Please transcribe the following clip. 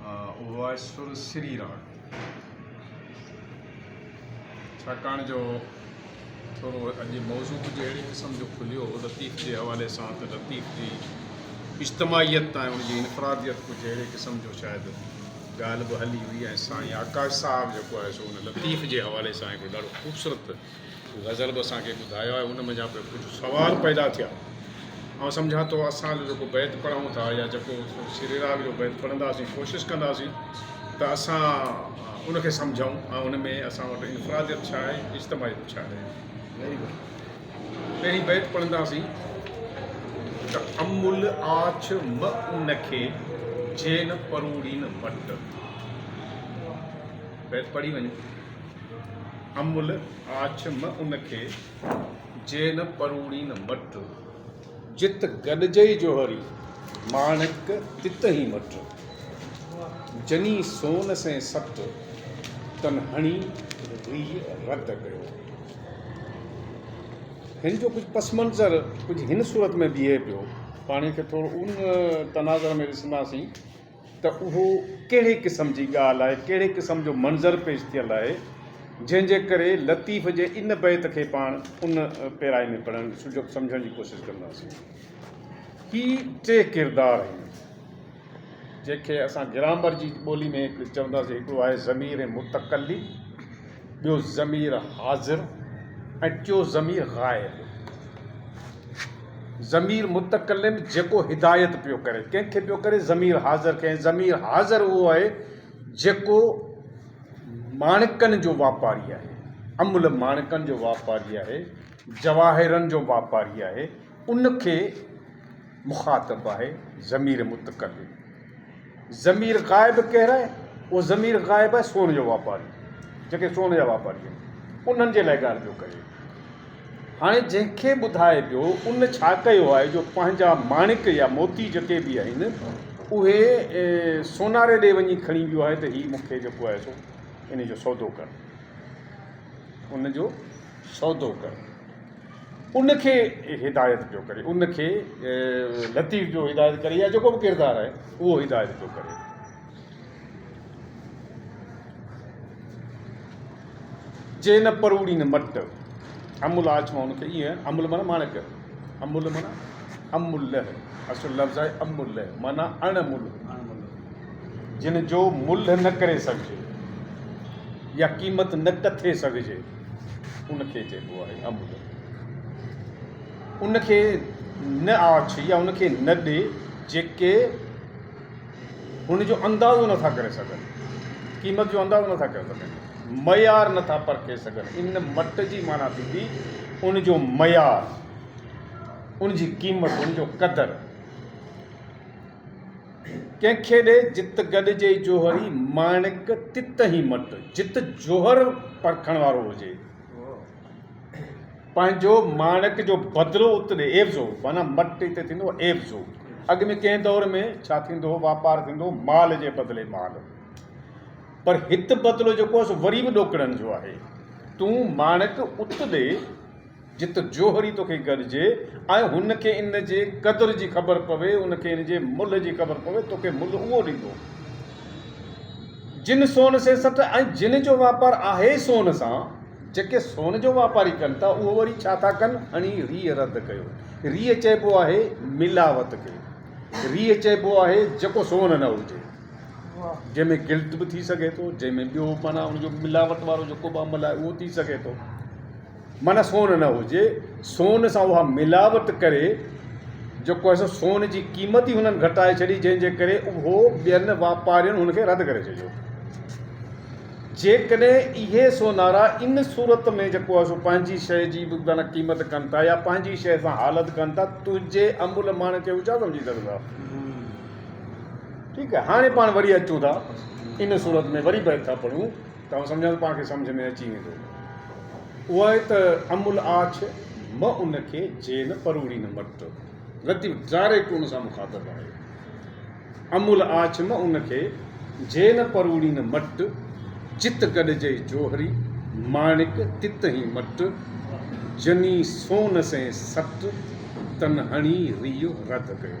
اهو آهي سر سري راڳ ڇاڪاڻ جو ٿورو اڄ موضوع ڪجهه اهڙي قسم جو کليو هو لطيف جي حوالي سان ته لطيف جي اجتماعيت تائين ان جي انفراديت ڪجهه اهڙي قسم جو شايد ڳالهه به هلي هئي ۽ سائين آڪاش صاحب جيڪو آهي سو ان لطيف جي حوالي سان هڪ ڏاڍو خوبصورت غزل به اسان کي ٻڌايو آهي ان منجهان به ڪجهه سوال پيدا ٿيا آئون سمجهان ٿو اسان جو جيڪو بيت پڙهون ٿا يا جيڪو سري راڳ جو بيت پڙهنداسين ڪوشش ڪنداسين ته اسان ان کي سمجهون ۽ ان ۾ اسان وٽ انفراديت ڇا آهي اجتماعيت ڇا آهي پهرين بيت پڙهنداسين ته امول آڇ م ان کي جين پروڙين مٽ بيت پڙهي وڃو امل آڇ م ان کي، جي نه پروڙي نه مٺ، جت گڏجئي جوهري، ماڻڪ تت هين مٺ، جني سون سين سٽ، تن هڻي ريء رد ڪيو. هن جو ڪجهه پس منظر ڪجهه هن صورت ۾ بيهي پيو. پاڻي کي ٿورو ان تناظر ۾ ڏسنداسين. ته اهو ڪهڙي قسم جي ڳالهه آهي، ڪهڙي قسم جو منظر پيش ٿيل آهي، جنهن جي ڪري لطيف جي ان بيت کي پاڻ ان پيرائي ۾ پڙهڻ سجهو سمجهڻ جي ڪوشش ڪنداسين. هي ٽي ڪردار آهن، جنهن کي اسان گرامر جي ٻولي ۾ چونداسين، هڪڙو آهي ضمير متڪلم، ٻيو ضمير حاضر ۽ ٽيون ضمير غائب. ضمير متڪلم جيڪو هدايت پيو ڪري ڪنهن کي پيو ڪري ضمير حاضر کي ۽ ضمير حاضر اهو آهي جيڪو ماڻڪن جو واپاري آهي املهه ماڻڪن جو واپاري آهي جواهرن جو واپاري آهي ان کي مخاطب آهي ضمير متڪلم. ضمير غائب ڪير آهي؟ اهو ضمير غائب آهي سون جو واپاري، جيڪي سون جا واپاري آهن، انهن جي لاء ڳالهه پيو ڪري. هاڻي جنهن کي ٻڌائي پيو، ان ڇا ڪيو آهي جو پنهنجا ماڻڪ يا موتي جيڪي به آهن، اهي سوناري ڏي وڃي کڻي ويو آهي ته هي مون کي جيڪو آهي سو ان جو سودو ڪر، ان جو سودو ڪر. ان کي هدايت پيو ڪري ان کي لطيف پيو هدايت ڪري يا جيڪو به ڪردار آهي اهو هدايت پيو ڪري جي نه پروڙي نه مٽ امل آڇ مان ان کي ائين امل مانا ماڻڪ امل مانا امل لهه اصل لفظ آهي امل لهه مانا اڻ مل جن جو مل نه ڪري سگهجي يا قيمت نه ڪٿي سگهجي ان کي چئبو آهي امر. ان کي نه آڇ يا ان کي نه ڏي جيڪي هن جو اندازو نه ٿا ڪري سگهن، قيمت جو اندازو نه ٿا ڪري سگهن، معيار نه ٿا پرکي سگهن. ان مٽ جي معنيٰ ٿيندي ان جو معيار، ان جي قيمت، ان جو قدر. ڪنهن کي ڏي جت گڏ جي جوهري ماڻڪ تت هي مٽ جت جوهر پرکڻ وارو هجي پنهنجو ماڻڪ جو بدلو ات ڏي عيوضو معنيٰ مٽ هتي ٿيندو عيوضو اڳ ۾ ڪنهن دور ۾ ڇا ٿيندو هو واپار ٿيندو هو مال جي بدلي مال پر هت بدلو جيڪو سو وري به ڏوڪڙن جو آهي تون ماڻڪ ات ڏي جت جوهري توکي گڏجي ۽ هن کي ان جي قدر جي خبر پوي، ان کي ان جي ملهه جي خبر پوي، توکي ملهه اهو ڏيندو، جن سون سين سٽ ۽ جن جو واپار آهي سون سان، جيڪي سون جو واپاري ڪن ٿا، اهو وري ڇا ٿا ڪن؟ هڻي ريء رد ڪيو. ريء چئبو آهي ملاوت کي. ريء چئبو آهي جيڪو سون نه هجي، جنهن ۾ گلٽ به ٿي سگهي ٿو، جنهن ۾ ٻيو معنيٰ ان جو ملاوت وارو جيڪو به عمل آهي اهو ٿي سگهي ٿو. معنيٰ سون نه هجي، سون سان اها ملاوت ڪري، جيڪو هي سو سون جي قيمت ئي هنن گهٽائي ڇڏي، جنهن جي ڪري اهو ٻين واپارين هن کي رد ڪري ڇڏيو. جيڪڏهن اهي سونارا ان صورت ۾ جيڪو هي سو پنهنجي شيء جي به معنيٰ قيمت ڪن ٿا يا پنهنجي شيء سان حالت ڪن ٿا، تنهنجي املهه ماڻهه کي هو ڇا سمجهي سگهندا؟ ٺيڪ آهي، هاڻي پاڻ وري اچون ٿا ان صورت ۾ وري بيت ٿا پڙهون. ته آئون سمجهان ٿو پاڻ کي سمجهه ۾ اچي ويندو. اوهائي ته امل آڇ م ان کي جي نه پروڙي نه مٽ. لطيف ڊائريڪٽ ان سان مخاطب آهي. امل آڇ م ان کي جي نه پروڙي نه مٽ. جت گڏجئي جوهري ماڻڪ تت هين مٽ. جني سون سين سٽ تن هڻي ريء رڌ ڪيو.